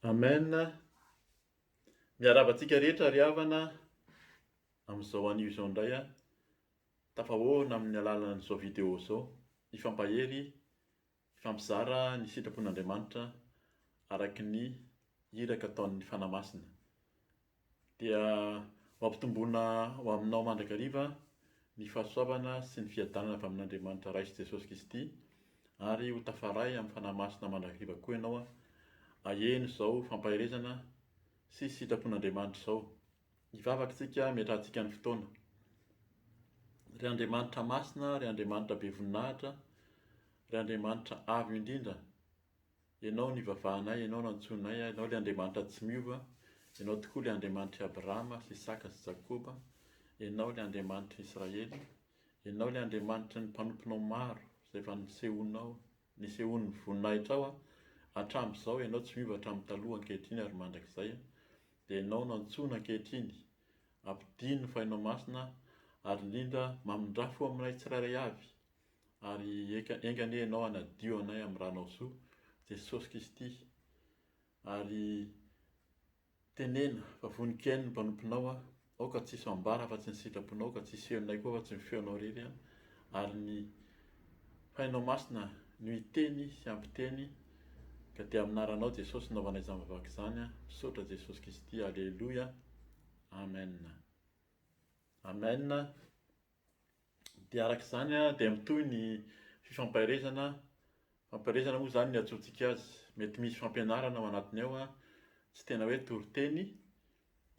Amen, miarahaba antsika rehetra ry havana amin'izao anio izao indray a, tafahoana amin'ny alalan'izao vidéo izao, hifampahery, hifampizara ny sitrapon'Andriamanitra araka ny iraka ataon'ny Fanahy Masina. Dia ho ampitomboina ho aminao mandrakariva ny fahasoavana sy ny fiadanana avy amin'Andriamanitra Ray sy Jesosy Kristy, ary ho tafaray amin'ny Fanahy Masina mandrakariva koa ianao aheno izao fampaherezana sy sitrapon'Andriamanitra izao. Hivavaka isika hametrahantsika ny fotoana. Ry Andriamanitra Masina, ry Andriamanitra be voninahitra, ry Andriamanitra Avo indrindra, Ianao nivavahanay, Ianao nantsoinay ahy, Ianao ilay Andriamanitra tsy miova, Ianao tokoa ilay Andriamanitr'i Abrahama sy Isaka sy Jakoba, Ianao ilay Andriamanitr'i Israely, Ianao ilay Andriamanitry ny mpanomponao maro izay efa nisehoanao, nisehoan'ny voninahitrao aho, hatramin'izao, Ianao tsy miova hatramin'ny taloha, ankehitriny ary mandrakizay, dia Ianao no antsoina ankehitriny, ampidino ny fanahinao masina ary indrindra mamindrà fo aminay tsirairay avy, Ary enga enga anie Ianao hanadio anay amin'ny Ranao soa, Jesosy Kristy. Ary teneno fa vonon-kiain'ny mpanomponao aho, aoka tsy hisy ambara afa-tsy ny sitraponao, aoka tsy hisy feonay koa afa-tsy ny feonao irery an, ary ny Fainao Masina no hiteny sy hampiteny, ka dia amin'ny anaranao Jesosy no naovanay izany vavaka izany an, misaotra Jesosy Kristy, Aleloia, Amen. Amen. Dia araka izany dia mitohy ny fifampaherezana, fifampaherezana moa izany ny iantsoantsika azy. Mety misy fampianarana ao anatiny ao an, tsy tena hoe toriteny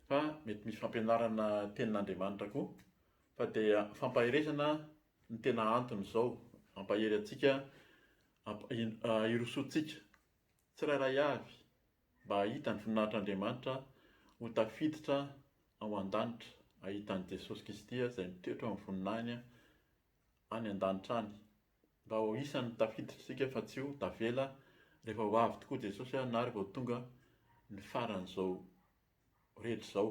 fa mety misy fampianarana tenin'Andriamanitra koa fa dia fampaherezana no tena anton'izao, hampahery antsika, hirosoantsika tsirairay avy. mba hahita ny voninahitr'Andriamanitra ho tafiditra ao an-danitra, hahita an'i Jesosy Kristy izay mitoetra eo amin'ny voninahiny any an-danitra any, mba ho isan'ny tafiditra isika fa tsy ho tavela rehefa ho avy tokoa Jesosy na rehefa ho tonga ny faran'izao rehetra izao.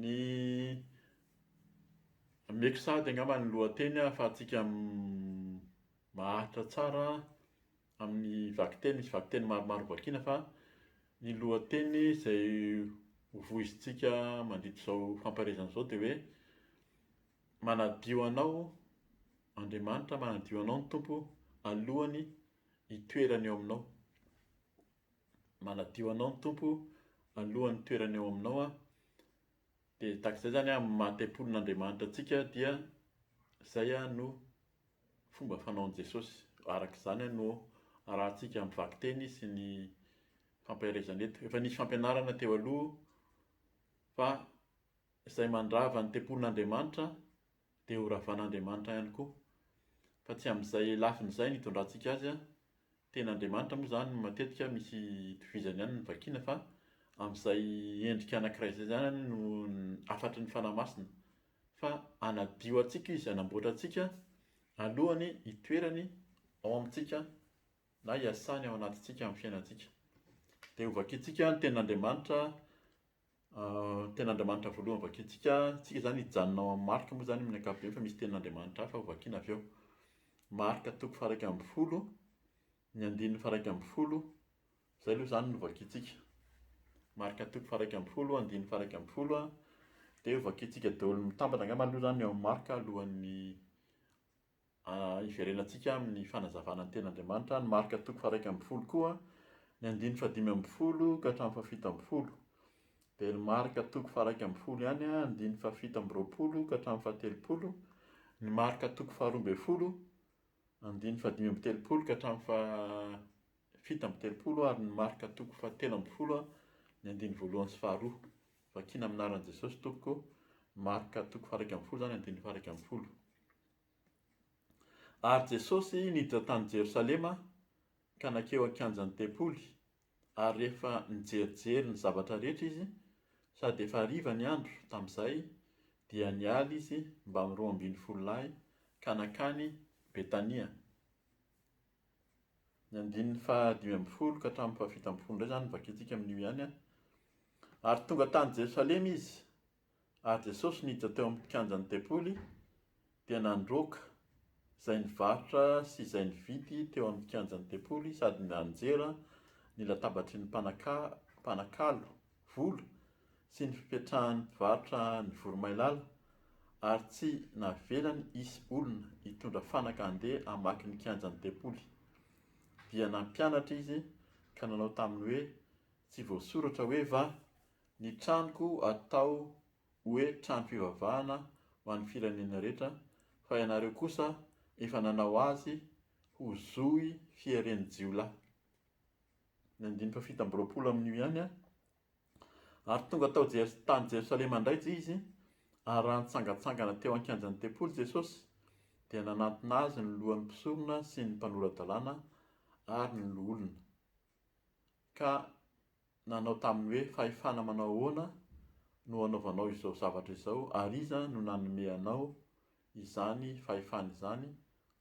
Ny meko sahady angamba ny lohateny ahafahantsika maharitra tsara amin'ny vakiteny, misy vakiteny maromaro hovakiana fa ny lohateny izay hovoizintsika mandidy izao famparezana izao dia hoe manadio anao Andriamanitra, manadio anao ny Tompo alohan'ny hitoerany eo aminao. manadio anao ny Tompo alohan'ny toerany ao aminao a, dia tahaka izay zany amin'ny maha tempolin'Andriamanitra antsika dia zay a no fomba fanaon'i Jesosy, araka izany a no arahantsika amin'ny vakiteny sy ny fampaherezana eto, efa nisy fampianarana teo aloha fa izay mandrava ny tempolin'Andriamanitra dia ho ravan'Andriamanitra ihany koa. Fa tsy amin'izay lafiny izay no hitondrantsika azy an! Tena Andriamanitra moa izany matetika misy itovizany ihany ny vakiana fa amin'izay endrika anankiray izay izany no hafatry ny Fanahy Masina. Fa hanadio antsika Izy, hanamboatra antsika alohany hitoerany ao amintsika na hiasany ao anatintsika amin'ny fiainantsika. Dia hovakintsika ny tenin'Andriamanitra Tena Andriamanitra voalohany vakintsika, isika izany hijanona ao amin'ny marika moa izany amin'ny ankapobeny fa misy tenin'Andriamanitra hafa ho vakiana avy eo. Marka toko faharaika ambin'ny folo, ny andininy faharaika ambin'ny folo, izay aloha izany no vakintsika. Marka toko faharaika ambin'ny folo, andininy faharaika ambin'ny folo, dia ho vakintsika daholo mitambatra angamba aloha izany ny ao amin'ny marka alohan'ny Hiverenantsika amin'ny fanazavana ny tenin'Andriamanitra any Marka toko faha-iraika ambin'ny folo koa, ny andininy fahadimy ambin'ny folo ka hatramin'ny fahafito ambin'ny folo. Dia ny Marka toko faha-iraika ambin'ny folo ihany, andininy fahafito amby roapolo ka hatramin'ny fahatelopolo, ny Marka toko faharoa ambin'ny folo, andininy fahadimy amby telopolo ka hatramin'ny fahafito amby telopolo ary ny Marka toko fahatelo ambin'ny folo, ny andininy voalohany sy faharoa. Vakina amin'ny anaran'i Jesosy tompoko, Marka toko faha-iraika ambin'ny folo izany, andininy faha-iraika ambin'ny folo. Ary Jesosy niditra tany Jerosalema ka nankeo an-kianjan'ny tempoly, ary rehefa nijerijery ny zavatra rehetra izy, sady efa hariva ny andro tamin'izay, dia niala izy mbamin'ny roa ambin'ny folo lahy ka nankany Betania. Ny andininy fahadimy ambin'ny folo ka hatramin'ny fahafito ambin'ny folo indray izany no vakintsika amin'io ihany. Ary tonga tany Jerosalema izy, Ary Jesosy niditra teo amin'ny kianjan'ny tempoly dia nandroaka izay nivarotra sy izay nividy teo amin'ny kianjan'ny tempoly sady nianjera ny latabatry ny mpanakalo vola sy ny fipetrahan'ny mpivarotra ny voromailala ary tsy navelany hisy olona hitondra fanaka handeha hamaky ny kianjan'ny tempoly. Dia nampianatra izy ka nanao taminy hoe, Tsy voasoratra hoe va Ny tranoko atao hoe trano-pivavahana ho an'ny firenena rehetra, fa ianareo kosa efa nanao azy ho zohy fieren'ny jiolahy. Ny andininy fahafito amby roapolo amin'io ihany an! Ary tonga tao Jers, tany Jerosalema indray Jzy izy, ary raha nitsangantsangana teo an-kianjan'ny tempoly Jesosy, dia nanantona azy ny lohan'ny mpisorona sy ny mpanora-dalàna ary ny loholona, ka nanao taminy hoe, Fahefana manao ahoana no anaovanao izao zavatra izao, ary iza no nanome anao izany fahefana izany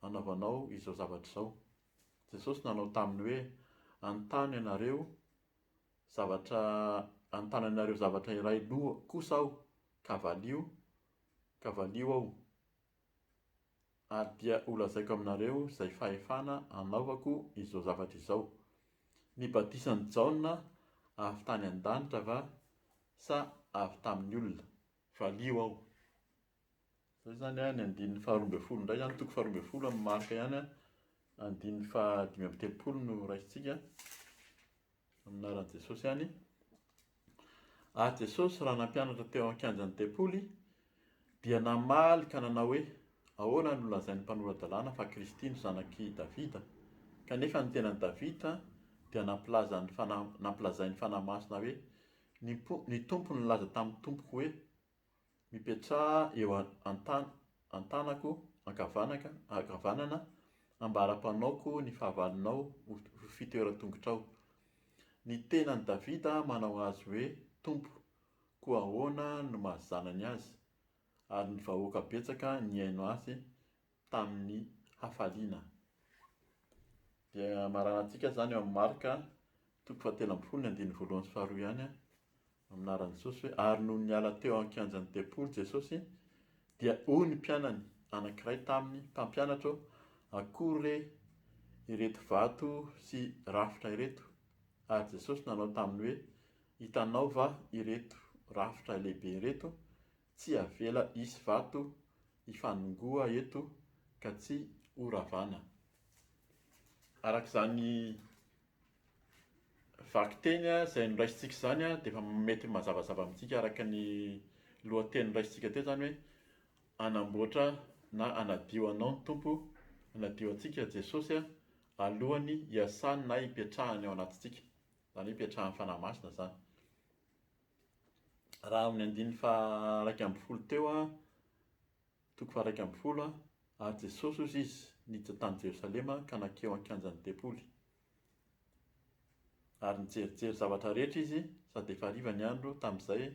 anaovanao izao zavatra izao? Jesosy nanao taminy hoe, Anontany ianareo zavatra anontany anareo zavatra iray kosa aho, ka valio, ka valio aho. Ary dia holazaiko aminareo izay fahefana anaovako izao zavatra izao. Ny batisan'i Jaona avy tany an-danitra va sa avy tamin'ny olona? Valio aho. Izay izany ny andininy faharoa ambin'ny folo indray izany, toko faharoa ambin'ny folo amin'ny Marka ihany, andininy fahadimy amby telopolo no raisintsika, amin'ny anaran'i Jesosy ihany. Ary Jesosy, raha nampianatra teo an-kianjan'ny tempoly, dia namaly ka nanao hoe, Ahoana no lazain'ny mpanora-dalàna fa Kristy no zanak'i Davida? Kanefa ny tenan'i Davida dia nampilaza ny fanahy, nampilazain'ny fanahy masina hoe, Ny Tompo nilaza tamin'ny Tompoko hoe, Mipetraha eo an-tàn an-tànako ankavanaka ankavanana ambara-panaoko ny fahavalonao ho ho fitoeran-tongotrao. Ny tenan'i Davida manao azy hoe Tompo, koa ahoana no maha zanany azy? Ary ny vahoaka betsaka nihaino azy tamin'ny hafaliana. Dia amaranan-tsika izany eo amin'ny Marc toko fahatelo ambin'ny folo ny andininy voalohany sy faharoa ihany amin'ny anaran'i Jesosy hoe ary nony niala teo an-kianjan'ny tempoly Jesosy dia hoy ny mpianany anankiray taminy mpampianatra ô akory re ireto vato sy rafitra ireto ary Jesosy nanao taminy hoe hitanao va ireto rafitra lehibe ireto Tsy avela hisy vato hifanongoa eto ka tsy ho ravana. Araka izany vakiteny izay noraisintsika izany dia efa mety mazavazava amintsika araka ny lohateny noraisintsika teo izany hoe hanamboatra na hanadio anao ny Tompo, hanadio antsika Jesosy alohan'ny hiasany na hipetrahany ao anatintsika. Izany hoe hipetrahan'ny Fanahy Masina izany. raha amin'ny andininy faha-iraika ambin'ny folo teo, toko faha-iraika ambin'ny folo, ary Jesosy ozy izy niditra tany Jerosalema ka nankeo an-kianjan'ny tempoly. Ary nijerijery zavatra rehetra izy, sady efa hariva ny andro, tamin'izay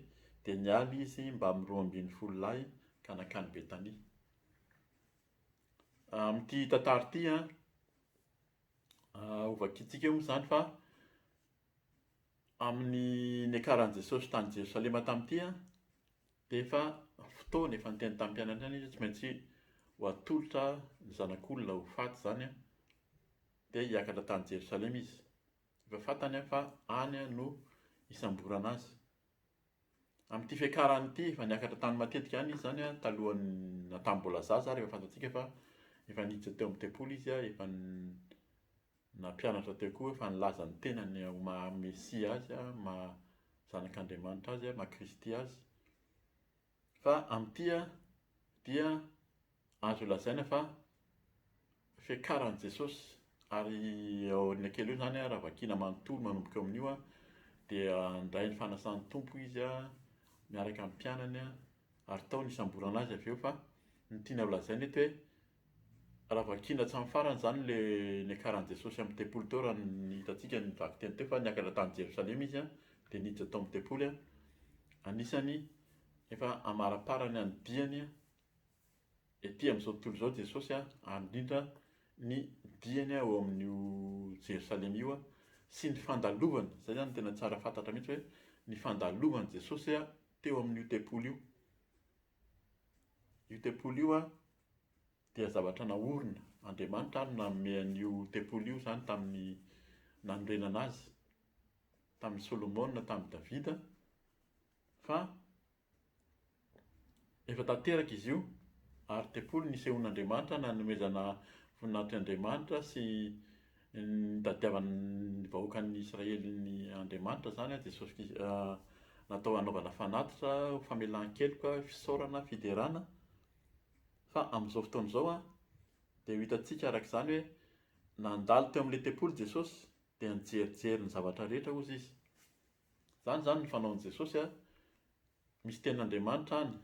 dia niala izy mbamin'ny roa ambin'ny folo lahy ka nankany Betania. Amin'ity tantara ity, hovakintsika moa izany fa Amin'ny niakaran'i Jesosy tany Jerosalema tamin'ity dia efa fotoana, efa niteny tamin'ny mpianany ihany izy hoe tsy maintsy ho atolotra ny Zanak'olona ho faty izany dia hiakatra tany Jerosalema izy. Efa fantany fa any no hisamborana azy. Amin'ity fiakarany ity, efa niakatra tany matetika ihany izy izany talohan'ny, tamin'ny mbola zaza ary efa fantatsika fa efa niditra teo amin'ny tempoly izy, efa Nampianatra teo koa fa nilaza ny tenany ho maha Mesia azy, maha Zanak'Andriamanitra azy, maha Kristy azy. Fa amin'ity dia azo lazaina fa fiakaran'i Jesosy ary aoriana kely eo izany raha vakina manontolo manomboka eo amin'io dia nindray ny fanasan'ny Tompo izy miaraka amin'ny mpianany ary tao nisamborana azy avy eo fa ny tiana ho lazaina eto hoe Raha vakiana hatramin'ny farany izany le niakaran'i Jesosy amin'ny tempoly teo raha ny hitantsika ny vakiteny teo fa niakatra tany Jerosalema izy a, dia niditra tao amin'ny tempoly a, anisany efa amaraparany an'ny diany a, ety amin'izao tontolo izao Jesosy a, ary indrindra ny diany a ao amin'io Jerosalema io a, sy ny fandalovany, izay izany no tena tsara fantatra mihintsy hoe ny fandalovan'i Jesosy a teo amin'io tempoly io, io tempoly io a. dia zavatra naorina, Andriamanitra ary nanome an'io tempoly io izany tamin'ny nanorenana azy, tamin'i Solomona, tamin'i Davida, fa efa tanteraka izy io, ary tempoly nisehoan'Andriamanitra nanomezana voninahitr'i Andriamanitra sy nitadiavana ny vahoakan'ny Israely ny Andriamanitra izany, Jesosy Kris- natao hanaovana fanatitra, famelan-keloka, fisaorana, fiderana, Fa amin'izao fotoana izao dia ho hitantsika araka izany hoe nandalo teo amin'ilay tempoly Jesosy dia nijerijery ny zavatra rehetra hozy izy. Izany izany ny fanaon'i Jesosy a, misy tenin'Andriamanitra any,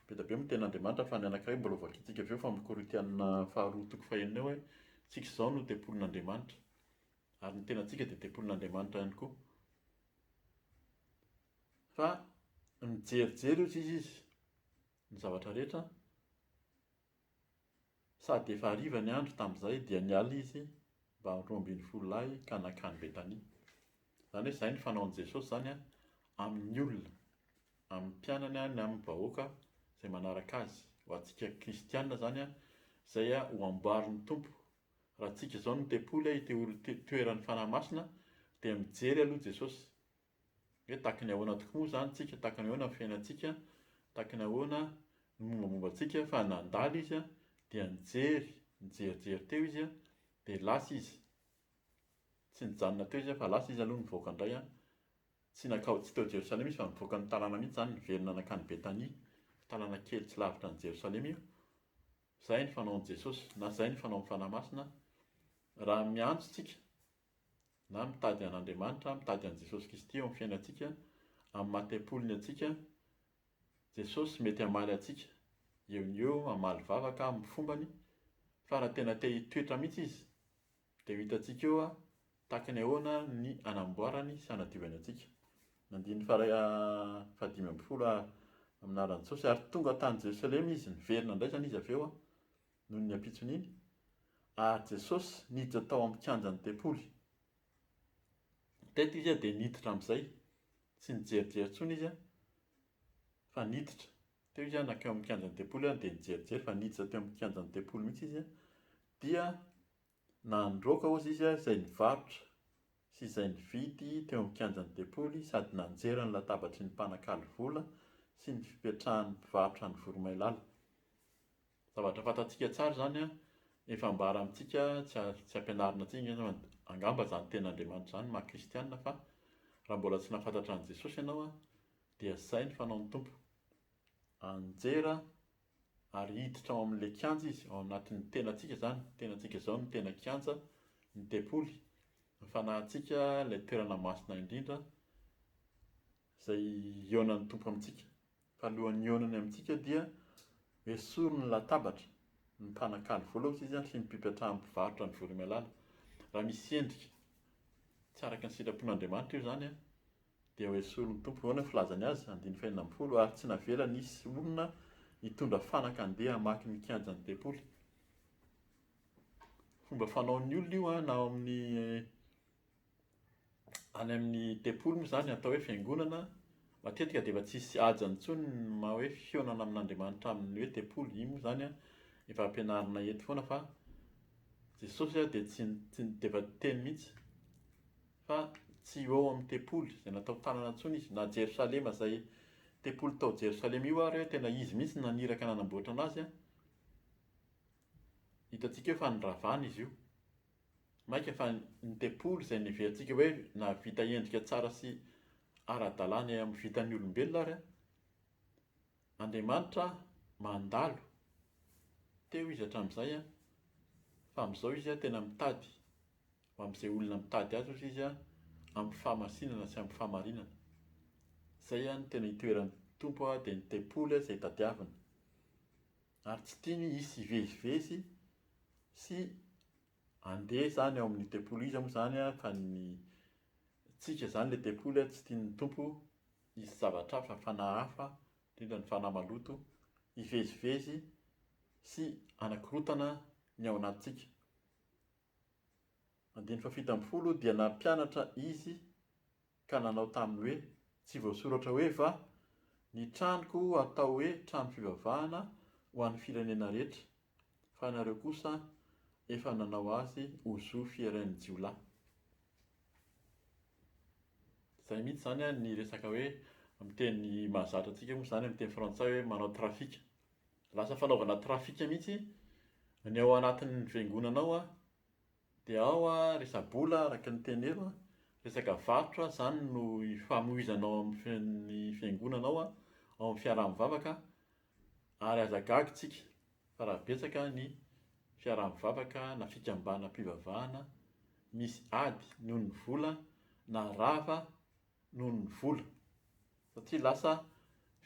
be dia be moa ny tenin'Andriamanitra fa ny anankiray mbola hovakintsika avy eo fa amin'ny Korintiana faharoa toko fahenina eo hoe isika izao no tempolin'Andriamanitra ary ny tenantsika dia tempolin'Andriamanitra ihany koa. Fa mijerijery hozy izy izy ny zavatra rehetra, sady efa hariva ny andro tamin'izay dia niala izy mba amin'ny roa ambin'ny folo lahy ka nankany Betania. Izany hoe izay ny fanaon'i Jesosy izany an, amin'ny olona, amin'ny mpianany na amin'ny vahoaka izay manaraka azy. Ho antsika kristiana izany an, izay an ho amboarin'ny Tompo. Raha antsika izao no tempoly, ity ol- ity toeran'ny Fanahy Masina dia mijery aloha Jesosy. Hoe tahaka ny ahoana tokoa moa izany tsika, tahaka ny ahoana ny fiainantsika, tahaka ny ahoana ny mombamomba antsika, fa nandalo izy dia nijery, nijerijery teo izy dia lasa izy. Tsy nijanona teo izy fa lasa izy aloha nivoaka indray, tsy nankao tsy tao Jerosalema izy fa nivoaka ny tanàna mihitsy izany, niverina nankany Betania, tanàna kely tsy lavitra an'i Jerosalema io. Izay ny fanaon'i Jesosy na izay ny fanaon'ny Fanahy Masina raha miantso antsika. na mitady an'Andriamanitra, mitady an'i Jesosy Kristy eo amin'ny fiainantsika, amin'ny maha tempoliny antsika, Jesosy mety hamaly antsika eo no eo, hamaly vavaka amin'ny fombany, fa raha tena te hitoetra mihitsy Izy, dia ho hitantsika eo tahaka ny ahoana ny hanamboarany sy hanadiovany antsika. Ny andininy faharay fahadimy ambin'ny folo, Ary tonga tany Jerosalema Izy, niverina indray izany Izy avy eo, Noho ny ampitsony iny, ary Jesosy niditra tao amin'ny kianjan'ny tempoly. Teto izy dia niditra amin'izay, tsy nijerijery intsony izy fa niditra. Teo izy nankeo amin'ny kianjan'ny tempoly dia nijerijery fa niditra teo amin'ny kianjan'ny tempoly mihitsy izy dia na nidroaka hozy izy izay nivarotra sy izay nividy teo amin'ny kianjan'ny Depoly sady nanjera ny latabatry ny mpanakalo vola sy ny fipetrahan'ny mpivarotra any Voromailala. Zavatra fantatsika tsara izany an! Efa ambara amintsika tsy tsy ampianarina antsika angamba angamba izany tenin'Andriamanitra izany maha kristiana fa raha mbola tsy nahafantatra an'i Jesosy ianao an dia izay ny fanaon'ny Tompo. Anjera. Ary hiditra ao amin'ilay kianja izy, ao anatin'ny tenantsika izany, ny tenantsika izao no tena kianja, ny tempoly, ny fanahintsika, ilay toerana masina indrindra, izay hihaonan'ny Tompo amintsika. Fa alohan'ny hihaonany amintsika dia esoriny ny latabatra, ny mpanakalo vola hozy izy an, sy ny mpipetrahan'ny mpivarotra ny vola imalala. Raha misy endrika tsy araka ny sitrapon'Andriamanitra io izany an, Dia hoesorin' ny Tompo, ahoana ny filazany azy, andininy fahenina ambin'ny folo, ary tsy navela nisy olona hitondra fanaka handeha hamaky ny kianjan' ny tempoly. Fomba fanaon' ny olona io an, na ao amin' ny any amin' ny tempoly moa izany atao hoe fiangonana, matetika dia efa tsy hisy haja intsony ny maha hoe fihaonana amin' Andriamanitra amin' ny hoe tempoly, iny moa izany an efa ampianarinay eto foana fa Jesosy dia tsy tsy dia efa niteny mihitsy. fa tsy ho eo amin'ny tempoly izay natao tanana intsony izy, na Jerosalema izay tempoly tao Jerosalema io ary hoe tena izy mihitsy no naniraka nanamboatra anazy an, hitantsika eo fa niravana izy io, maika fa ny tempoly izay neverintsika hoe nahavita endrika tsara sy ara-dalàna eo amin'ny vitan'ny olombelona ary an, Andriamanitra mandalo, teo izy hatramin'izay an, fa amin'izao izy an tena mitady. amin'izay olona mitady azy ozy izy amin'ny fahamasinana sy amin'ny fahamarinana. Izay no tena itoeran'ny Tompo dia ny tempoly izay tadiaviny. Ary tsy tiany hisy hivezivezy sy handeha izany ao amin'ny tempoly iza moa izany fa ny tsika izany ilay tempoly tsy tian'ny Tompo hisy zavatra hafa, fanahy hafa, indrindra ny fanahy maloto hivezivezy sy hanakorontana ny ao anatintsika. Andininy fahafito ambin'ny folo, Dia nampianatra izy ka nanao taminy hoe, Tsy voasoratra hoe va, Ny tranoko hatao hoe trano fivavahana ho an'ny firenena rehetra? Fa ianareo kosa efa nanao azy ho zo fieren'ny jiolahy. Izay mihitsy izany ny resaka hoe amin'ny teny mahazatra antsika moa izany amin'ny teny frantsay hoe manao trafic. lasa fanaovana trafika mihitsy ny ao anatin'ny fiangonana ao an, dia ao an resa-bola araka ny tenenao an, resaka varotra izany no ifamohizana ao amin'ny fiangonana ao an, ao amin'ny fiaraha-mivavaka ary aza gaga isika fa raha betsaka ny fiaraha-mivavaka na fikambanam-pivavahana misy ady noho ny vola na rava noho ny vola satria lasa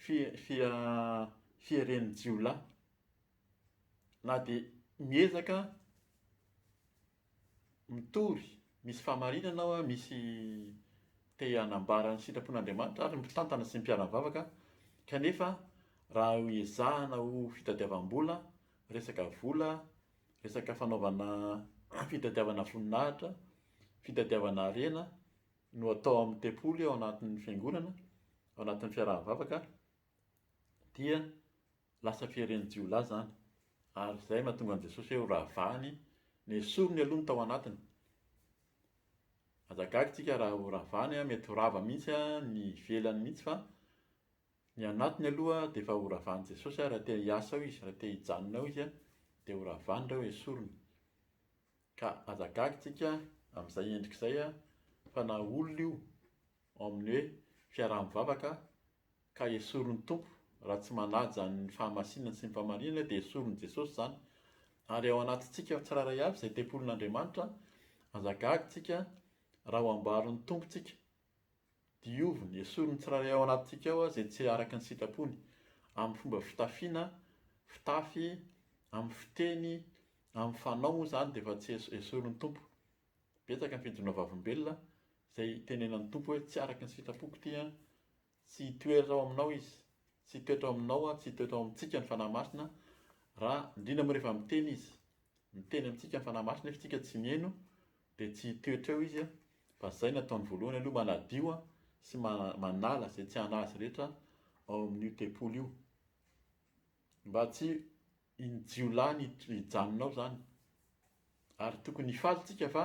fi- fia- fieren'ny jiolahy na dia miezaka mitory misy fahamarinana aho a, misy te hanambara ny sitrapon'Andriamanitra ary mpitantana sy mpiara-mivavaka kanefa raha ezahana ho fitadiavam-bola, resaka vola, resaka fanaovana fitadiavana voninahitra, fitadiavana harena. no atao amin'ny tempoly ao anatin'ny fiangonana, ao anatin'ny fiaraha-mivavaka, dia lasa fieren'ny jiolahy izany. Ary izay no mahatonga an'i Jesosy hoe horavany, nesoriny aloha ny tao anatiny. Aza gaga isika raha horavany, mety ho rava mihitsy ny ivelany mihitsy fa ny anatiny aloha dia efa horavan'i Jesosy raha te hiasa ao izy, raha te hijanona ao izy dia horavany ireo, esoriny. Ka aza gaga tsika amin'izay endrika izay fa na olona io ao amin'ny hoe fiaraha-mivavaka ka esorin'ny Tompo raha tsy manaja ny fahamasinany sy ny fahamarinany dia esorin'i Jesosy izany. Ary ao anatintsika tsirairay avy izay tempolin'Andriamanitra, aza gaga tsika raha ho ambarin'ny Tompo tsika Dioviny, esory ny tsirairay ao anatintsika ao izay tsy araka ny sitrapony, amin'ny fomba fitafiana, fitafy, amin'ny fiteny, amin'ny fanao moa izany dia efa tsy esory ny Tompo. Betsaka ny fijoroana vavolombelona izay itenenan'ny Tompo hoe tsy araka ny sitrapoko ity an, tsy hitoetra ao aminao izy, tsy hitoetra ao aminao an, tsy hitoetra ao amintsika ny Fanahy Masina raha, indrindra moa rehefa miteny izy, miteny amintsika ny Fanahy Masina nefa isika tsy miheno Dia tsy hitoetra eo izy fa izay no ataony voalohany aloha manadio sy manala izay tsy anazy rehetra ao amin'io tempoly io mba tsy iny jiolahy ny hijanona ao izany ary tokony hifaly isika fa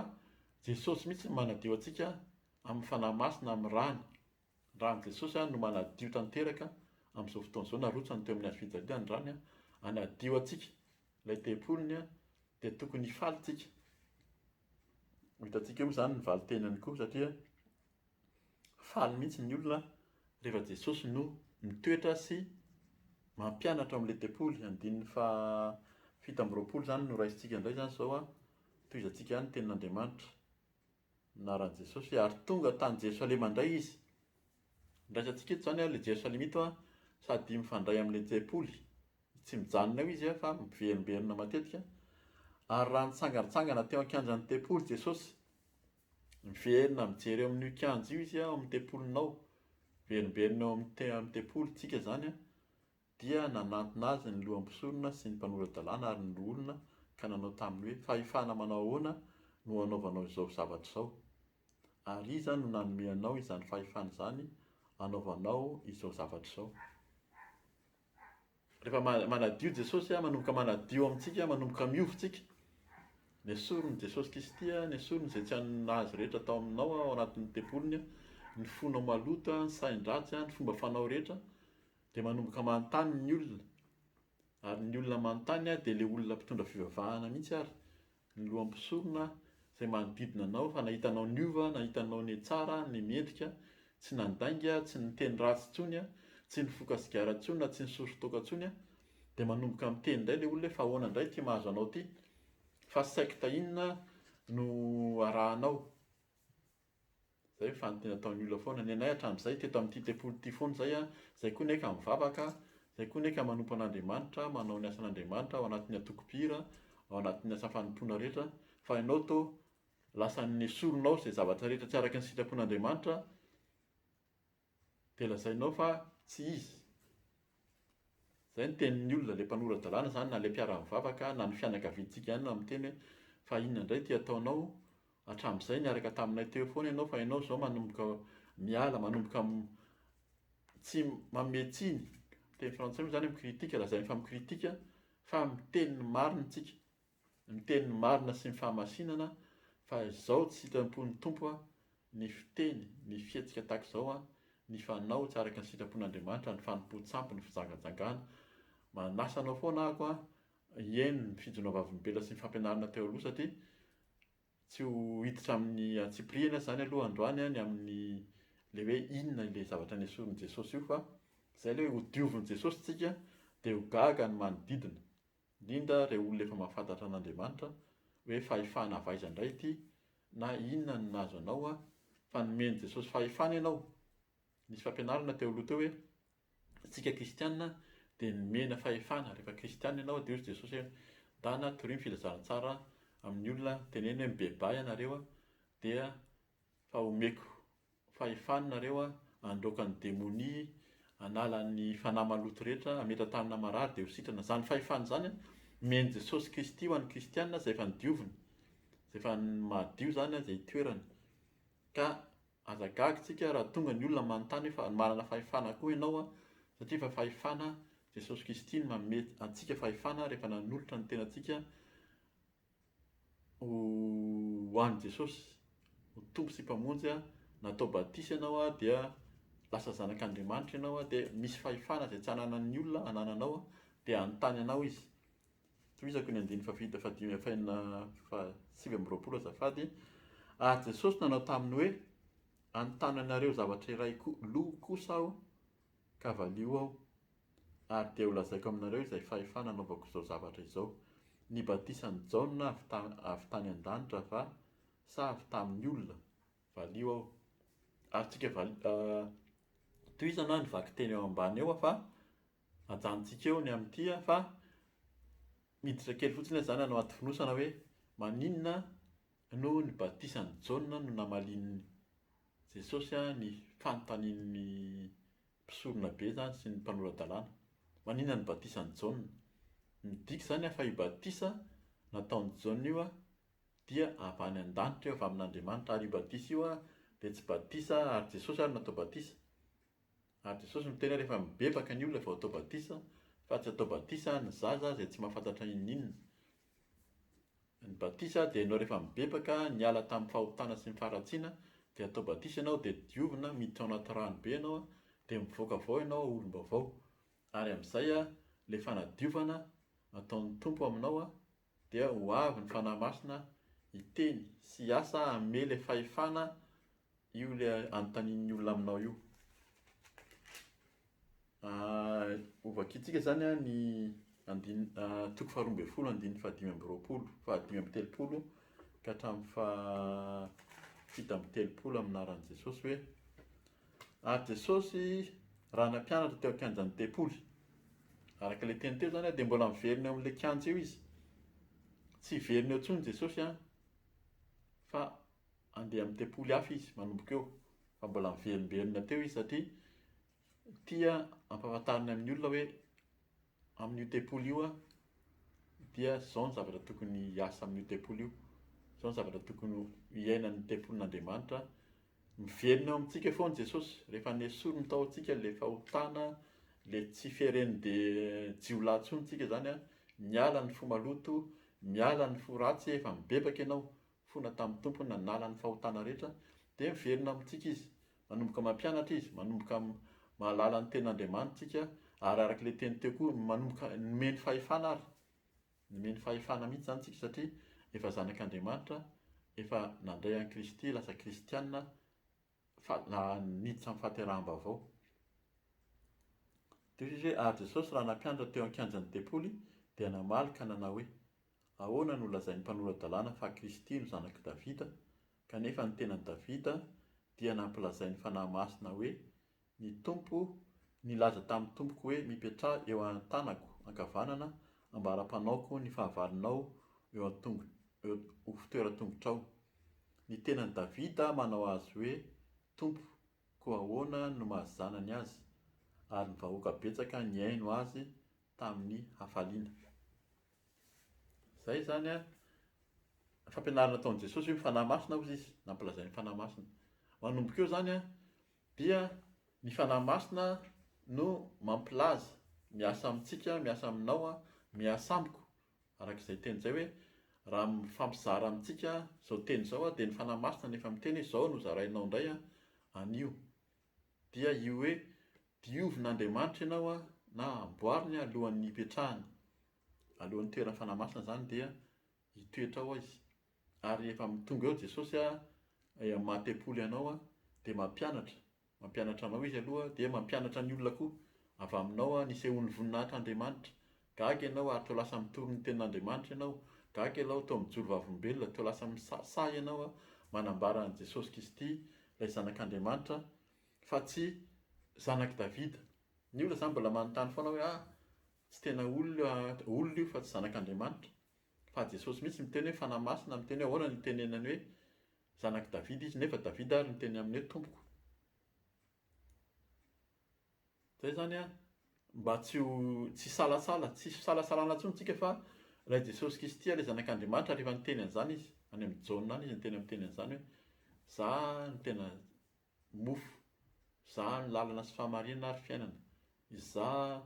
Jesosy mihitsy no manadio antsika amin'ny fanahy masina amin'ny rany Raha an'i Jesosy ary no manadio tanteraka amin'izao fotoana izao, narotsany teo amin'ny hazo fijaliana ny rany hanadio antsika, ilay tempoliny, dia tokony hifaly isika. Ho hitantsika eo moa izany ny valin-tenany koa satria faly mihitsy ny olona rehefa Jesosy no mitoetra sy mampianatra ao amin'ilay tempoly. Andininy faha fito amby roapolo izany no raisintsika indray izany izao, tohizantsika ihany ny tenin'Andriamanitra. Naran'i Jesosy hoe, ary tonga tany Jerosalema indray izy. Andraisantsika eto izany ilay Jerosalema ito sady mifandray amin'ilay tempoly. Tsy mijanona eo izy fa miverimberina matetika. Ary raha nitsangantsangana teo an-kianjan'ny tempoly Jesosy, miverina mijery eo amin'io kianja io izy ao amin'ny tempolinao, miverimberina eo amin'ny te- amin'ny tempolintsika izany an, Dia nanantona azy ny loha mpisorona sy ny mpanora-dalàna ary ny loholona ka nanao taminy hoe, Fahefana manao ahoana no anaovanao izao zavatra izao? Ary iza no nanome anao izany fahefana izany anaovanao izao zavatra izao? Rehefa manadio Jesosy, manomboka manadio amintsika, manomboka miova isika. Nesorin'i Jesosy Kristy, nesoriny izay tsy azy rehetra tao aminao ao anatin'ny tempoliny, ny fonao maloto, ny sain-dratsy, ny fomba fanao rehetra, Dia manomboka manontany ny olona. Ary ny olona manontany dia ilay olona mpitondra fivavahana mihitsy ary ny loha mpisorona izay manodidina anao fa nahita anao niova, nahita anao netsara, nemendrika, tsy nandainga, tsy niteny ratsy intsony, tsy nifoka sigara intsony na tsy nisory toaka intsony, dia manomboka miteny indray ilay olona hoe fa ahoana indray ity mahazo anao ity? Fa secte inona no arahanao? Zay ny fanoteny ataon'ny olona foana. Ny anay hatramin'izay, teto amin'ity tempoly ity foana izay an, izay koa ny ahy ka mivavaka, izay koa ny ahy ka manompo an'Andriamanitra, manao ny asan'Andriamanitra ao anatin'ny antoko mpihira, ao anatin'ny asa fanompoana rehetra, fa ianao toa lasa nesorinao izay zavatra rehetra tsy araka ny sitrapon'Andriamanitra, Dia lazainao fa tsy izy. Izay ny tenin'ny olona, ilay mpanora-dalàna izany na ilay mpiara-mivavaka na ny fianakaviantsika ihany no miteny hoe fa inona indray ity ataonao, hatramin'izay niaraka taminay teo foana ianao fa ianao izao manomboka miala, manomboka tsy manome tsiny. Teny frantsay moa izany hoe mi-critique, lazainy fa mi-critique fa miteny ny marina isika. Miteny ny marina sy ny fahamasinana fa izao tsy sitrapon'ny Tompo an, ny fiteny, ny fihetsika tahaka izao an, ny fanao tsy araka ny sitrapon'Andriamanitra ny fanompoan-tsampy ny fijangajangana. Manasa anao foana ahako an, hieno ny fijona vavolombelona sy ny fampianarana teo aloha satria tsy ho hiditra amin'ny antsipirihany aza izany aloha androany an ny amin'ny ilay hoe inona ilay zavatra nesorin'i Jesosy io fa izay ilay hoe ho diovin'i Jesosy isika dia ho gaga ny manodidina. indrindra ireo olona efa mahafantatra an'Andriamanitra hoe fahefana avy aiza indray ity na inona no nahazo anao an, fa nomen'i Jesosy fahefana ianao, nisy fampianarana teo aloha teo hoe isika kristiana dia nomena fahefana rehefa kristiana ianao, dia hoy Jesosy hoe mitana torio ny filazantsara amin'ny olona, teneno hoe mibebaha ianareo dia Fa omeko fahefana nareo handroaka ny demonia, hanala ny fanahy maloto rehetra, hametra tanana marary dia ho sitrana. Izany fahefana izany an, omen'i Jesosy Kristy ho an'ny kristiana izay efa nodioviny, izay efa madio izany izay itoerany. Ka aza gaga isika raha tonga ny olona manontany hoe fa manana fahefana koa ianao an, satria efa fahefana Jesosy Kristy no manome antsika fahefana rehefa nanolotra ny tenantsika Ho an'i Jesosy ho Tompo sy Mpamonjy aho, na atao batisa ianao aho dia lasa zanak'Andriamanitra ianao aho dia misy fahefana izay tsy ananan'ny olona anananao aho dia hanontany anao izy. Tohizako ny andininy fahafito fahadimy fahenina fahasivy amby roapolo azafady. Ary Jesosy nanao taminy hoe, Anontanianareo zavatra iray koa, loha kosa aho, Ka valio aho, ary dia holazaiko aminareo izay fahefana anaovako izao zavatra izao. Ny batisan'i Jaona avy ta, avy tany an-danitra va, sa avy tamin'ny olona? Valio aho. Ary tsika vali, a, tohizana aho ny vakiteny eo ambany eo fa ajanontsika eo ny amin'ity a, fa miditra kely fotsiny aho izany hanao atifonosana hoe, maninona, Noho ny batisan'i Jaona no namalian'i Jesosy ny fanontanian'ny mpisoronabe izany sy ny mpanora-dalàna. Maninona ny batisan'i Jaona? Midika izany an fa io batisa nataon'i Jaona io dia avy any an-danitra io, avy amin'Andriamanitra, ary io batisa io dia tsy batisa ary Jesosy ary no atao batisa. Ary Jesosy no miteny hoe rehefa mibebaka ny olona vao atao batisa fa tsy atao batisa ny zaza izay tsy mahafantatra inona inona. Ny batisa dia ianao rehefa mibebaka niala tamin'ny fahotana sy ny faharatsiana dia atao batisa ianao dia diovina miditra ao anaty rano be ianao dia mivoaka avy ao ianao olom-baovao ary amin'izay ilay fanadiovana ataon'ny Tompo aminao dia ho avy ny Fanahy Masina hiteny sy hiasa hanome ilay fahefana io ilay anontanian'ny olona aminao io. Hovakiantsika izany ny andin- toko faharoa ambin'ny folo andininy fahadimy amby roapolo, fahadimy amby telopolo ka hatramin'ny faha- fito amby telopolo amin'ny anaran'i Jesosy hoe, Ary Jesosy, raha nampianatra teo an-kianjan'ny tempoly. Araka ilay teny teo izany dia mbola miverina eo amin'ilay kianja eo izy. Tsy hiverina eo intsony Jesosy an, fa Handeha amin'ny tempoly hafa izy manomboka eo, fa mbola miverimberina teo izy satria tia hampahafantariny amin'ny olona hoe amin'io tempoly io aho dia izao ny zavatra tokony hiasa amin'io tempoly io, izao ny zavatra tokony hiaina ny tempolin'Andriamanitra. Miverina eo amintsika foana Jesosy, rehefa nesoriny ny tao amintsika ilay fahotana, ilay tsy fiheren'be- jiolahy intsony isika izany, miala ny fo maloto, miala ny fo ratsy, efa mibebaka ianao, fona tamin'ny Tompo nanala ny fahotana rehetra dia miverina amintsika Izy, manomboka mampianatra Izy, manomboka mahalala ny tena Andriamanitra tsika ary araka ilay teny teo koa manomboka nomeny fahefana ary, nomeny fahefana mihitsy izany tsika satria efa zanak'Andriamanitra, efa nandray an'i Kristy, lasa kristiana fa niditra ny fahateraham-baovao. Toy izy hoe, Ary Jesosy, raha nampianatra teo an-kianjan'ny tempoly, dia namaly ka nanao hoe, Ahoana no lazain'ny mpanora-dalàna fa Kristy no zanak'i Davida, kanefa ny tenan'i Davida dia nampilazain'ny Fanahy Masina hoe, Ny Tompo nilaza tamin'ny tompoko hoe mipetraha eo an-tanako ankavanana ambara-panaoko ny fahavalonao eo an-tongo eo ho fitoeran-tongotrao. Ny tenan'i Davida manao azy hoe Tompo, koa ahoana no maha zanany azy? Ary ny vahoaka betsaka nihaino azy tamin'ny hafaliana. Izay izany an, fampianarana nataon'i Jesosy hoe ny Fanahy Masina hozy izy, nampilazainy ny Fanahy Masina. Manomboka eo izany an, Dia ny Fanahy Masina no mampilaza, miasa amintsika, miasa aminao, miasa amiko, araka izay teny izay hoe, raha mifampizara amintsika izao teny izao aho dia ny Fanahy Masina no efa miteny hoe izao no zarainao indray anio. Dia io hoe diovin'Andriamanitra ianao na amboariny alohan'ny hipetrahany, alohan'ny hitoeran'ny Fanahy Masina izany dia hitoetra ao izy. Ary rehefa amin'ny tonga eo Jesosy hamaha tempoly anao dia mampianatra, mampianatra anao Izy aloha dia mampianatra ny olona koa, avy aminao ny hisehoan'ny voninahitr' Andriamanitra, gaga ianao ary toa lasa mitory ny tenin' Andriamanitra ianao, gaga ianao toa mijoro vavolombelona, toa lasa misahisahy ianao manambara an'i Jesosy Kristy ilay Zanak' Andriamanitra fa tsy Zanak'i Davida. Ny olona izany mbola manontany foana hoe, ah, tsy tena olona, olona io fa tsy Zanak' Andriamanitra. Fa Jesosy mihitsy miteny hoe Fanahy Masina, miteny hoe ahoana ny itenenany hoe zanak'i Davida izy, nefa Davida ary miteny aminy hoe Tompoko. Zay zany an, mba tsy ho tsy hisalasala, tsy hisy fisalasalana intsony tsika fa ilay Jesosy Kristy ilay zanak'Andriamanitra ary efa niteny an'izany izy, any amin'ny Jaona any izy niteny amin'ny teny an'izany hoe za no tena mofo. Izaho ny lalana sy fahamarinana ary fiainana. Izaho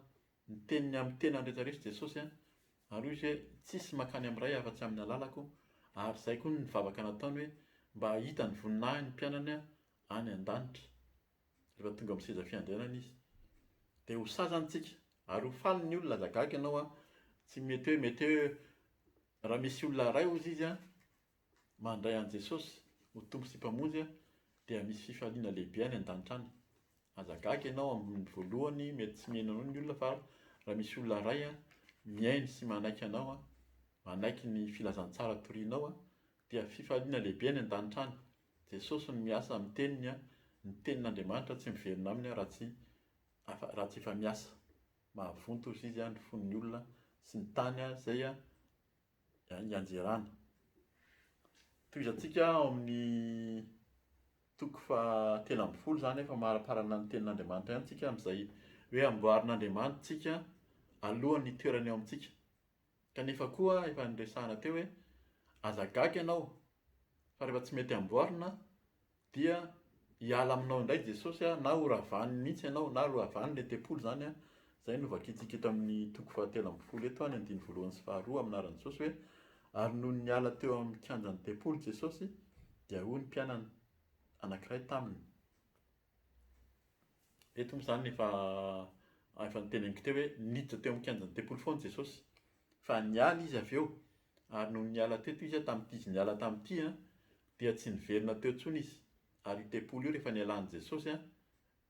ny teniny amin'ny tenany rehetra rehetra Jesosy a! Ary hoy izy hoe tsisy makany amin'ny Ray afa-tsy amin'ny alalako ary izay koa ny vavaka nataony hoe mba hahita ny voninahiny ny mpianany any an-danitra rehefa tonga amin'ny seza fiandrianany izy. Dia ho sahy izany tsika ary ho faly ny olona aza gaga ianao a! Tsy mety hoe mety hoe raha misy olona iray hozy izy a! Mandray an'i Jesosy ho Tompo sy Mpamonjy dia misy fifaliana lehibe any an-danitra any. Aza gaga ianao amin'ny voalohany mety tsy miheno anao ny olona fa raha misy olona iray mihaino sy manaiky anao, manaiky ny filazantsara torianao dia fifaliana lehibe any an-danitra any. Jesosy no miasa amin'ny teniny, ny tenin'Andriamanitra tsy miverina aminy raha tsy raha tsy efa miasa. Mahavonto hozy Izy ny fon'ny olona sy ny tany izay ianjerana. Tohizantsika ao amin'ny toko fahatelo ambin'ny folo izany hoe famariparana ny tenin'Andriamanitra ihany isika amin'izay hoe amboarin'Andriamanitra isika alohan'ny hitoerany ao amintsika. Kanefa koa efa niresahana teo hoe aza gaga ianao fa rehefa tsy mety amboarina dia hiala aminao indray Jesosy a, na horavany mihitsy ianao, na loavany le tempoly zany a, zay no vakintsika eto amin'ny toko fahatelo ambin'ny folo eto a, ny andininy voalohany sy faharoa amin'ny anaran'i Jesosy hoe, ary nony niala teo amin'ny kianjan'ny tempoly Jesosy dia hoy ny mpianany anankiray taminy, eto moa zany efa efa niteneniko teo hoe niditra teo amin'ny kianjan'ny tempoly foana Jesosy, Fa niala izy avy eo, ary nony niala teto izy tamin'ity izy niala tamin'ity dia tsy niverina teo intsony izy. Ary io tempoly io rehefa nialan'i Jesosy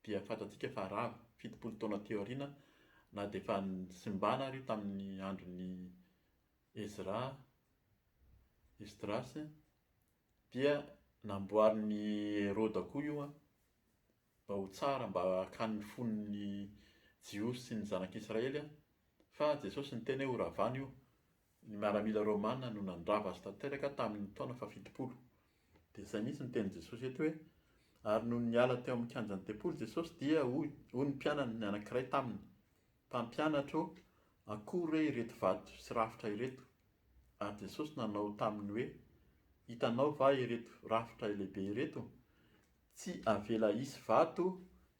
dia fantatsika fa rava, fitopolo taona teo aoriana, na dia efa nisimbana ary io tamin'ny andron'i Ezra, Esdrasy, dia namboarin'i Heroda koa io. Mba ho tsara mba hakan'ny fon'ny Jiosy sy ny zanak'Israely an! Fa Jesosy niteny hoe horavana io. Ny miaramila romana no nandrava azy tanteraka tamin'ny taona fahafitopolo. Dia izay mihitsy no tenin'i Jesosy eto hoe, Ary nony niala teo amin'ny kianjan'ny tempoly Jesosy dia hoy ny mpianany anankiray taminy, Mpampianatra ô, akory re ireto vato sy rafitra ireto? Ary Jesosy nanao taminy hoe, Hitanao va ireto rafitra lehibe ireto? Tsy avela hisy vato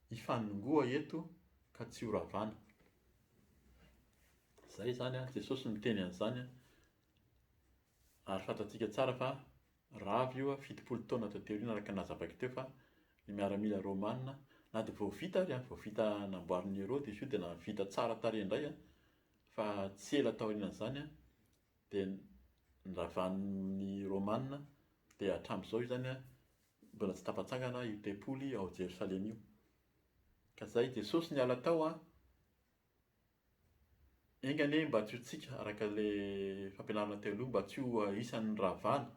hifanongoa eto ka tsy ho ravana. Izay izany an, Jesosy no niteny an'izany an, ary fantatsika tsara fa raha avy io fitopolo taona taty aoriana araka ny nazavako teo fa ny miaramila romana na dia vao vita ary an, vao vita namboarin'i Herode izy io dia na vita tsara tarehy indray an, fa tsy ela taorianan'izany an, dia niravanin'ny romana dia hatramin'izao izany an, Mbola tsy tafatsangana io tempoly ao Jerosalema io. Ka izay Jesosy niala tao an, enga anie mba tsy ho tsika araka ilay fampianarana teo aloha, mba tsy ho isan'ny rahavana.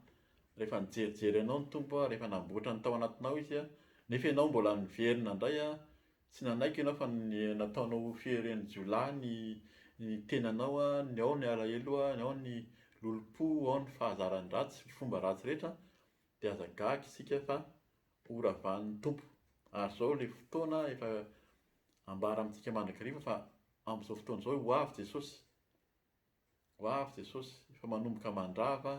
Rehefa nijerijery anao ny Tompo an, rehefa namboatra ny tao anatinao Izy an, nefa ianao mbola niverina indray an, tsy nanaiky ianao fa nataonao ho fieren'ny-jiolahy ny ny tenanao an, ny ao ny alahelo an, ny ao ny lolompo, ao ny fahazara ny ratsy, ny fomba ratsy rehetra, Dia aza gaga isika fa ho ravahan'ny Tompo. Ary izao ilay fotoana efa ambara amintsika mandrakariva fa amin'izao fotoana izao ho avy Jesosy. Ho avy Jesosy, efa manomboka mandrava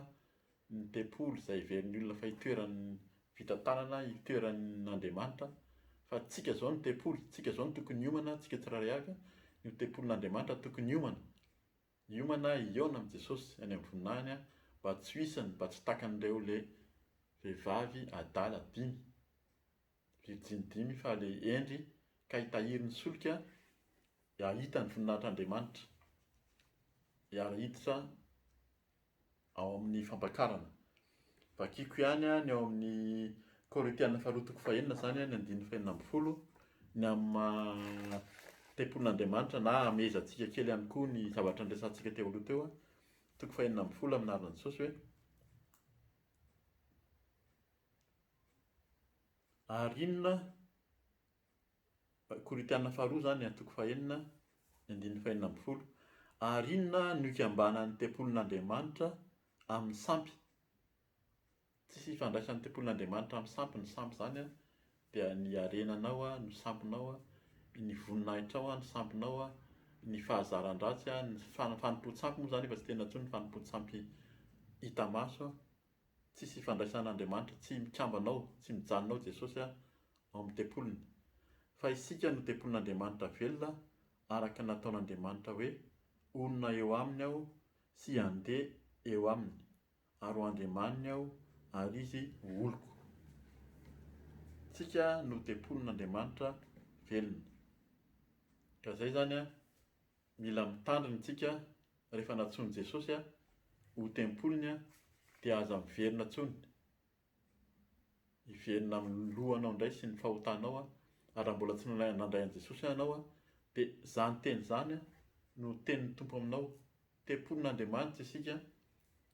ny tempoly izay heverin'ny olona fa itoeran'ny vita tanana, itoeran'Andriamanitra. Fa antsika izao no tempoly, antsika izao no tokony hiomana, antsika tsirairay avy, io tempolin'Andriamanitra tokony hiomana. Hiomana aho hihaona amin'i Jesosy any amin'ny voninahiny mba tsy ho isan'ny mba tsy takan'ireo le vehivavy adala dimy, virjiny dimy, fa le hendry ka hitahiry ny solika hahita ny voninahitr'Andriamanitra, hiara-hiditra ao amin'ny fampakarana. Vakiko ihany ny ao amin'ny Kôrintiana faharoa toko fahenina izany ny andininy fahenina ambin'ny folo, ny amin'ny maha tempolin'Andriamanitra na hamehezantsika kely ihany koa ny zavatra niresahantsika teo aloha teo, toko fahenina ambin'ny folo amin'ny anaran'i Jesosy hoe Ary inona Korintiana Faharoa izany, toko fahenina, ny andininy fahenina ambin'ny folo. Ary inona no ikambanan'ny tempolin'Andriamanitra amin'ny sampy? Tsisy ifandraisan'ny tempolin'Andriamanitra amin'ny sampy ny sampy izany dia ny harenanao no sampinao, ny voninahitrao no sampinao, ny fahazaran-dratsy, ny fanompoan-tsampy moa izany efa tsy tena intsony ny fanompoan-tsampy hita maso. Tsisy ifandraisana Andriamanitra, tsy mikambana ao, tsy mijanona ao Jesosy ao amin'ny tempoliny. Fa isika no tempolin'Andriamanitra velona araka ny nataon'Andriamanitra hoe, Honina eo aminy aho sy handeha eo aminy, ary ho Andriamaniny aho ary izy ho oloko. Tsika no tempolin'Andriamanitra velona. Ka zay zany an. Mila mitandrina isika rehefa nantsoin'i Jesosy ho tempoliny dia aza miverina intsony. Hiverina amin'ny lohanao indray sy ny fahotanao ary raha mbola tsy nandray an'i Jesosy ianao dia izany teny izany no tenin'ny Tompo aminao, tempolin'Andriamanitra isika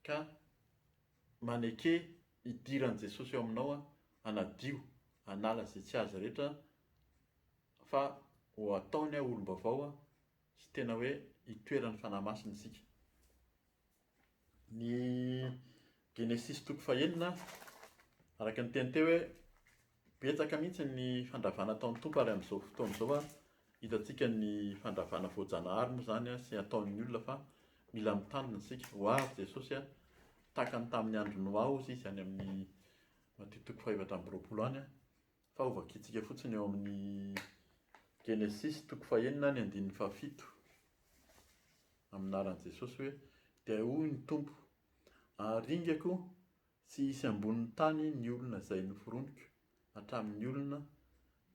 ka maneke hidiran'i Jesosy ao aminao hanadio, hanala izay tsy azy rehetra. Fa ho ataony aho olom-baovao aho, sy tena hoe itoeran'ny Fanahy Masina isika. Ny Genesisy toko fahenina, araka ny teny teo hoe, betsaka mihitsy ny fandravana ataon'ny Tompo ary amin'izao fotoana izao ary hitantsika ny fandravana voajanahary moa izany sy ataon'ny olona fa mila mitandrina isika. Ho avy Jesosy an, tahaka ny tamin'ny andro Noa hozy izy any amin'ny Matio toko fahefatra amby roapolo any an. Fa hovakintsika fotsiny ao amin'ny Genesisy toko fahenina ny andininy fahafito, amin'ny anaran'i Jesosy hoe, Dia hoy ny Tompo, Haringako tsy hisy ambonin'ny tany ny olona izay noforoniko, hatramin'ny olona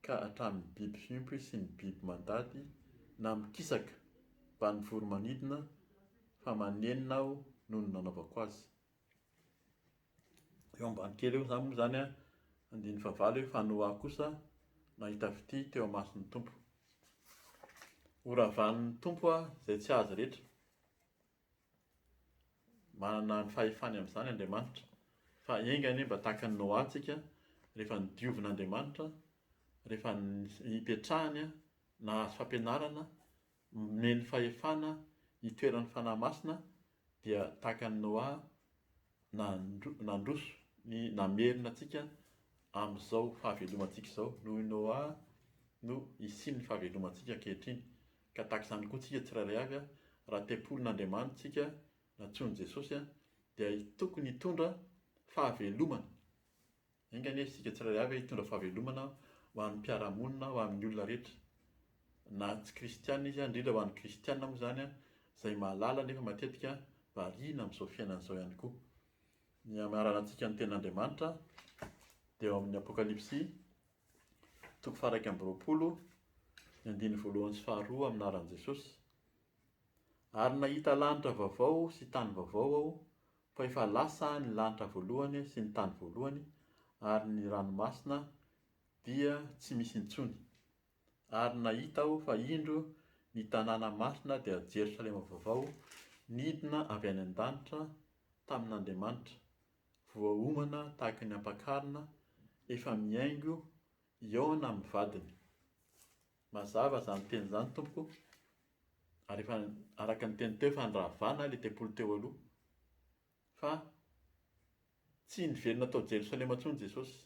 ka hatramin'ny biby fiompy sy ny biby mandady na mikisaka, mba ny voromanidina, fa manenina Aho noho ny nanaovako azy. Eo ambany kely eo izany moa izany an, andininy fahavalo hoe fa Noa kosa nahita fitia teo imason'ny Tompo. Horavanin'ny Tompo izay tsy azy rehetra. Manana ny fahefany amin'izany Andriamanitra. Fa enga anie mba tahaka an'i Noa isika, rehefa nodiovin'Andriamanitra, rehefa nipetrahany, nahazo fampianarana, Nomeny fahefana hitoeran'ny Fanahy Masina dia tahaka an'i Noa nandro- nandroso ny namerina antsika amin'izao fahavelomantsika izao. Noho i Noa no hisian'ny fahavelomantsika ankehitriny. Ka tahaka izany koa tsika tsirairay avy, raha tempolin'Andriamanitra tsika, nantsoin'i Jesosy, dia tokony hitondra fahavelomana. Enga anie isika tsirairay avy hitondra fahavelomana ho an'ny mpiara-monina, ho amin'ny olona rehetra, na tsy kristiana izy, indrindra ho an'ny kristiana moa izany izay mahalala nefa matetika variana amin'izao fiainana izao ihany koa. Ny hamaranantsika ny tenin'Andriamanitra dia ao amin'ny Apokalypsy toko faharaika amby roapolo, ny andininy voalohany sy faharoa amin'ny anaran'i Jesosy. Ary nahita lanitra vaovao sy tany vaovao aho, Fa efa lasa ny lanitra voalohany sy ny tany voalohany, ary ny ranomasina dia tsy misy intsony. Ary nahita aho fa indro ny tanàna masina dia Jerosalema vaovao nidina avy any an-danitra tamin'Andriamanitra, voaomana tahaka ny ampakarina, efa mihaingo hihaona amin'ny vadiny. Mazava izany teny izany, tompoko, ary efa araka ny teny teo efa niravana ilay tempoly teo aloha, fa tsy niverina tao Jerosalema intsony Jesosy,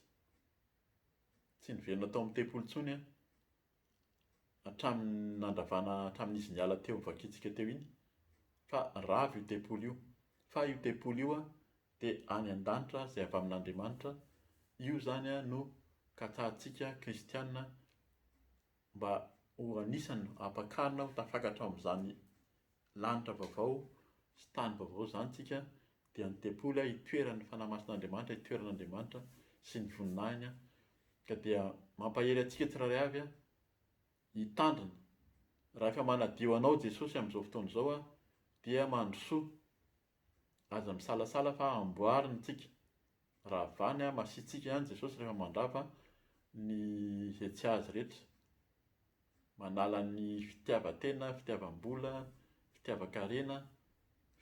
tsy niverina tao amin'ny tempoly intsony an, hatramin'ny nandravana hatramin'izy niala teo nivakiantsika teo iny, fa rava io tempoly io, fa io tempoly io an dia any an-danitra izay avy amin'Andriamanitra, io izany an no katsahantsika kristiana, Mba ho anisan'ny hampakarina ho tafakatra ao amin'izany lanitra vaovao sy tany vaovao izany isika, dia ny tempoly itoeran'ny Fanahy Masin'Andriamanitra, itoeran'Andriamanitra sy ny voninahiny, ka dia mampahery antsika tsirairay avy hitandrina. Rahefa manadio anao Jesosy amin'izao fotoana izao dia mandrosoa Aza misalasala fa amboariny tsika. Ravany an masitsika ihany Jesosy rehefa mandrava ny izay tsy azy rehetra. Manala ny fitiavan-tena, fitiavam-bola, fitiavan-karena,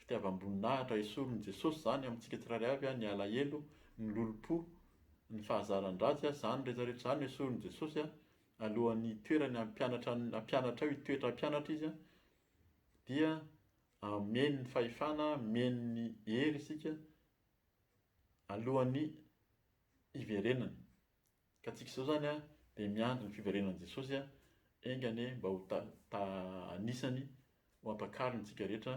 fitiavam-boninahitra. Esorin'i Jesosy izany amintsika tsirairay avy ny alahelo, ny lolompo, ny fahazaran-dratsy. Izany rehetra rehetra izany esorin'i Jesosy alohan'ny hitoerany hampianatra hampianatra eo, hitoetra hampianatra izy dia Amin ny fahefana amin ny hery isika alohan ny hiverenana. Ka tsika izao izany dia miandry ny fiverenan Jesosy a enga anie mba ho ta ta anisany ho ampakariny tsika rehetra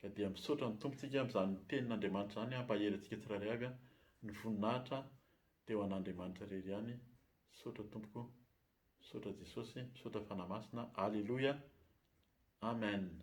ka dia misaotra ny Tompo tsika amin'izany tenin Andriamanitra izany hampahery antsika tsirairay avy a ny voninahitra dia ho an Andriamanitra irery ihany misaotra tompoko. Misaotra Jesosy, misaotra Fanahy Masina, Aleloia, Amen.